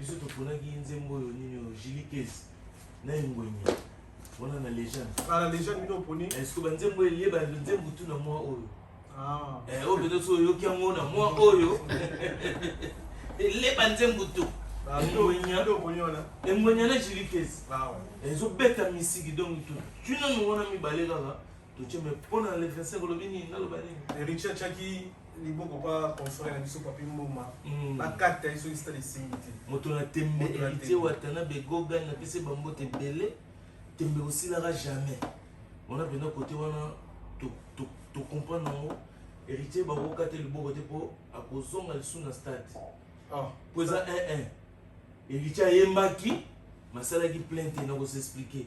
biso toponaki nzembo oyo nini oyo jilikes na engwenya wana na legende ah, na legende bino oponi eske banzembo eyeba nzembo tu na mwa oyo ah. eh, oyo mpenza so oyoki yango na mwa oyo eleba nzembo tu ah, engwenya na jilikes ezobeta misiki donc tunanu wana mibale kaka Toche mais pona le 25 olobi nini naloba nini? Heritier chaki liboko pa confrère na biso papi mboma hmm. bakata ye soki stade esimbi te moto na tembe heritier watana begogan napesi bambote ebele tembe osilaka jamais wana mpenza kote wana tocomprendre yango héritier bakoka te liboko te mpo akozonga lisusu na stade ah. mpo eza 1 héritier ayembaki masalaki plainte na kosexplike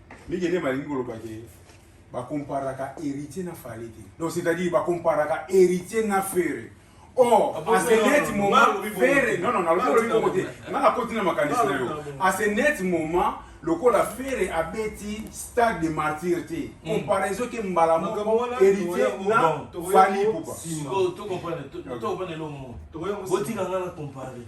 Mike nde malingi koloba ke bakomparaka héritier na fale te donc c'est-à-dire bakomparaka héritier na fere or ah, à ce net moment fere non non nalobi olobi bongo te nga nakoti na makanisi na yo à ce net moment lokola fere abeti stade de martyr te hmm. comparaison ke mbala moko héritier na fali pupa botika nga na compare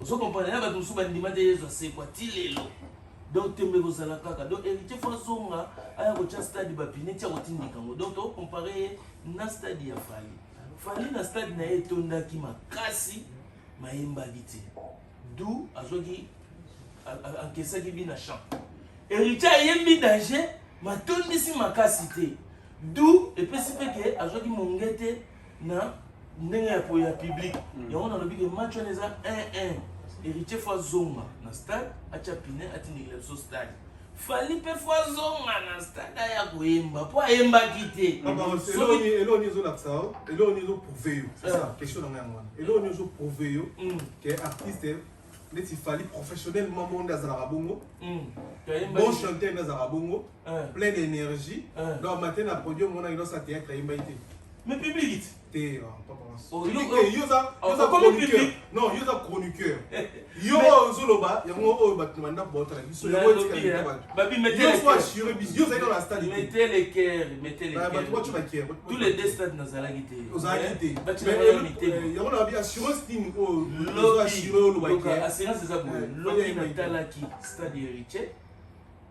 ozo comprendre na bato mosusu bandima te yezu asekwa ti lelo donc tembe kozala kaka donc héritier fo azonga aya kotya stade bapine ti akotindika yango donc tokompare ye na stade ya fali fali na stade na ye etondaki makasi mayembaki te du azwaki ankesaki bi na champ héritier ayembi danger matondisi makasi te du epesi mpe ke azwaki monge te na ndenge ya koya public mm. yango nalobi ke match wana eza 1-1 héritier fo azonga na stade atya pine atindikela biso stade fali mpe fo azonga na stade aya koyemba mpo ayembaki te eloni ezolakisa yo eloni ezoprouve yo question na ngai yango wana eloni ezoprouve yo ke artiste neti fali professionnel mamo nde azalaka bongo bon chanteur nde azalaka bongo plein d'énergie donc amate na produit omonaki nosa théâtre ayembaki te mais public te yoza chroniqueur yo ozoloba yango oyo bato na bandako baotala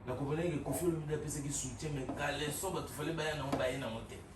nakomonaki kofi olomide apesaki soutien mais kaleso bato fale baya nango baye nango te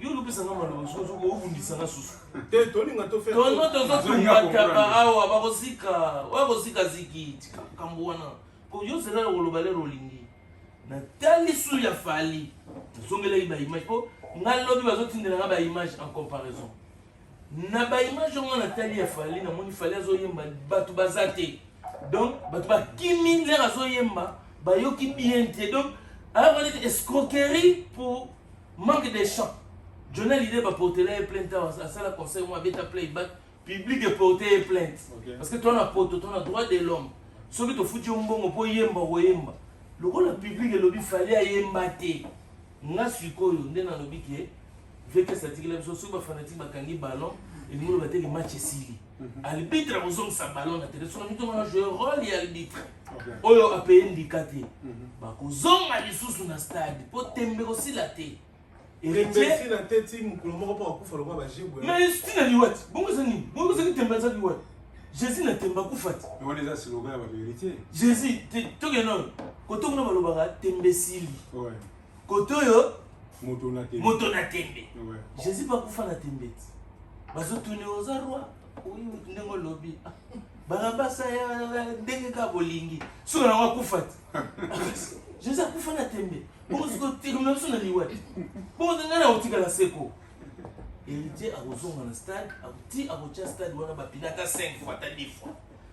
yo lopesa nga maloba soki obundisa nga susu te tolinga totono tozotumbataka awa bakozika oyo kozika ziki kambo wana po yo zela koloba lelo olingi natali su ya fali nazongelaki baimage po nga lobi bazotindela nga baimage en comparaison na baimage yango natali ya fali namoni fali azoyemba bato baza te donc bato bakimi lere azoyemba bayoki bien te donc ayokali escroquerie pour Manque de chant. Johnny Hallyday ba portela ye plainte awa asala conseil mwa abeta playback public eporte ye plainte okay. parce que to na poto to na droit de l'homme soki tofuti yo mbongo mpo oyemba okoyemba lokola public elobi fali ayemba te nga sikoyo nde nalobi ke vekes atikela biso soki bafanatike bakangi ballon elingi loba te ke match esili arbitre akozongisa ballon na terrain soki mitoma na joue role ya arbitre oyo apaye ndika te mhm. bakozonga lisusu na stade mpo tembe kosila te mais tina liwati bongo eza nini bongo ezaki tembe eza liwati jésus na tembe akufa te jésus tokende oyo koto kuna balobaka tembe esili kotoyo moto na tembe moto na tembe jésus bakufa na tembe ti bazotuni oza roi oyi moto ndenge olobi barabasa ndenge kaka bolingi soki yango akufa ti jésus akufa na tembe bongo soki otikama biso na liwa ti bongo ngai na kotikala seko héritier akozonga na stade ti akotya stade wana bapinaka 5 fois ata 10 fois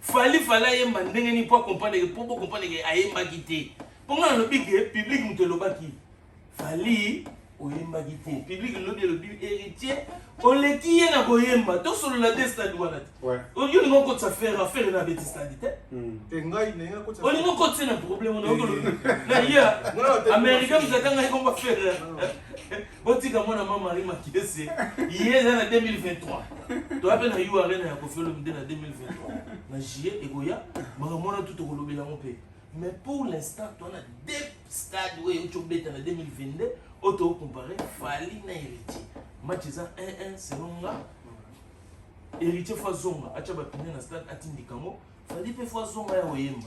Fally fallait ayemba ndenge nini mpo akomprendre ke mpo bokomprendre ke ayembaki te mpo ngai nalobi ke public moto elobaki fali oyembaki te public lobi elobi héritier oleki ye na koyemba tosolola te stade wana te olingi olingi okotisa fere afere na abeti stade te hmm. olingi okotisa na problème wana okolobi na ye américain mozaka ngai komba fere Botika mwana mama Marie Makese, ye eza na 2023. Toya pe na U Arena ya Koffi Olomide na 2023. Na juillet ekoya, makambo wana tout tokolobela yango pe. Mais pour l'instant, toya na deux stades oyo euti obeta na 2022 oyo toko comparer Fally na Heritier. Match eza 1-1 selon nga. Heritier fo azonga, atia bapine na stade atindika yango. Fally pe fo azonga ya koyemba.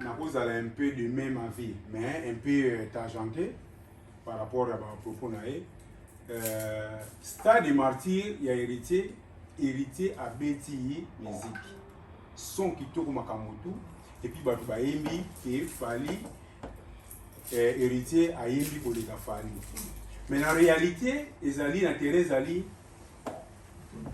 nakozala un peu de même avis mais un peu euh, tangente par rapport ya bapropos na ye euh, stade de martyr ya héritier héritier abeti ye musique son kitoko makambo tu epuis bato bayembi ke fali euh, héritier ayembi koleka fali mais na réalité ezali na terrain ezali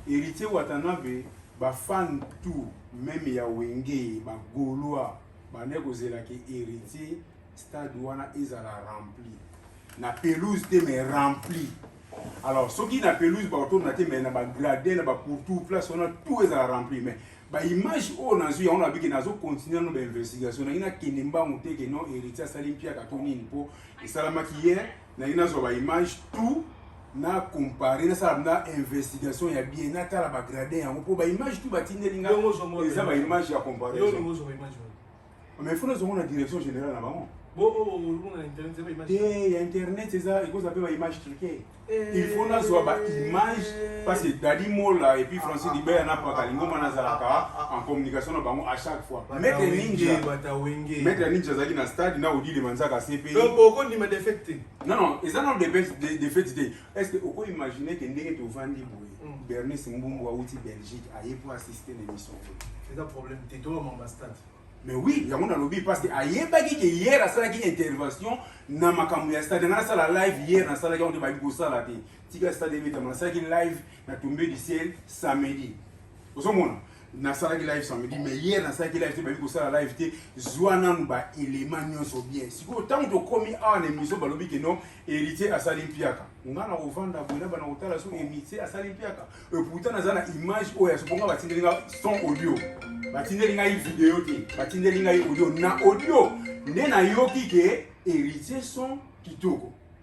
Heritier Watanabe ba fan tout meme ya Wenge ba Gaulois bande kozela ke Heritier stade wana ezala rempli na pelouse te mais rempli alors soki na pelouse bakotomona te mais na bagradin na bapourtour place wana tout ezala rempli mais baimage oyo nazwi yango na biki nazo continue no bainvestigation nangi nakende mbangu te ke non héritier asali mpiaka to nini mpo esalamaki ye nalingi nazwa ba image tout na compare nasala na investigation ya bien natala bagrade yango mpo baimage tout batindeli nga eza baimage ya comparaison mais fo nazongo na direction générale na bango te ya internet eza ekozala mpe baimage truke il faut nazwa baimage parce que dadi mola epuis francis libert na paka lingoma nazalaka en communication na bango à chaque fois Maître Ninja. Batawenge. Maître Ninja azalaki na stade na Odile Manzaka CP. Donc oko ndima défaite te. Non non, eza na défaite de, défaite te. Est-ce que oko imaginer que ndenge tovandi boye? Mm. Bernice Mbumbu awuti Belgique aye pour assister l'émission. Eza problème te to mamba stade. Mais oui, yango nalobi parce que ayebaki que hier asalaki intervention na makambo ya stade na sala live hier na salaki yango te bayebi kosala te. Tika stade ebetama nasalaki live na tombe du ciel samedi. Ozo mona nasalaki live samedi mais hier nasalaki live te bayebi kosala live te zwa nanu baelema nyonso bien sikoyo ntango tokomi awa na émission balobi ke non héritier asali mpiaka nga na kovanda boye na bana kotala so héritier asali mpiaka eputa naza na image oyo asoponga batindeli nga son audio batindeli ngai video te batindeli ngai audio na audio nde nayoki ke héritier son kitoko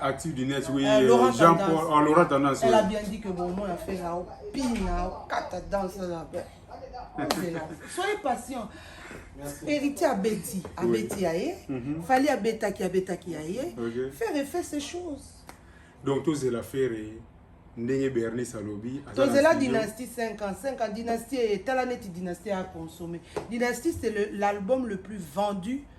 active du net oui euh, Laurent Jean Paul oh, Laurent Tendance elle a bien dit que bon moi a fait là au pina au kata danse là soyez patient héritier abeti abeti ya ye mhm. fali abetaki abetaki ya ye faire effet ces choses donc tozela faire ndenge bernice alobi tozela dynastie 5 ans 5 ans dynastie etala neti dynastie aconsomme dynastie c'est l'album le, le plus vendu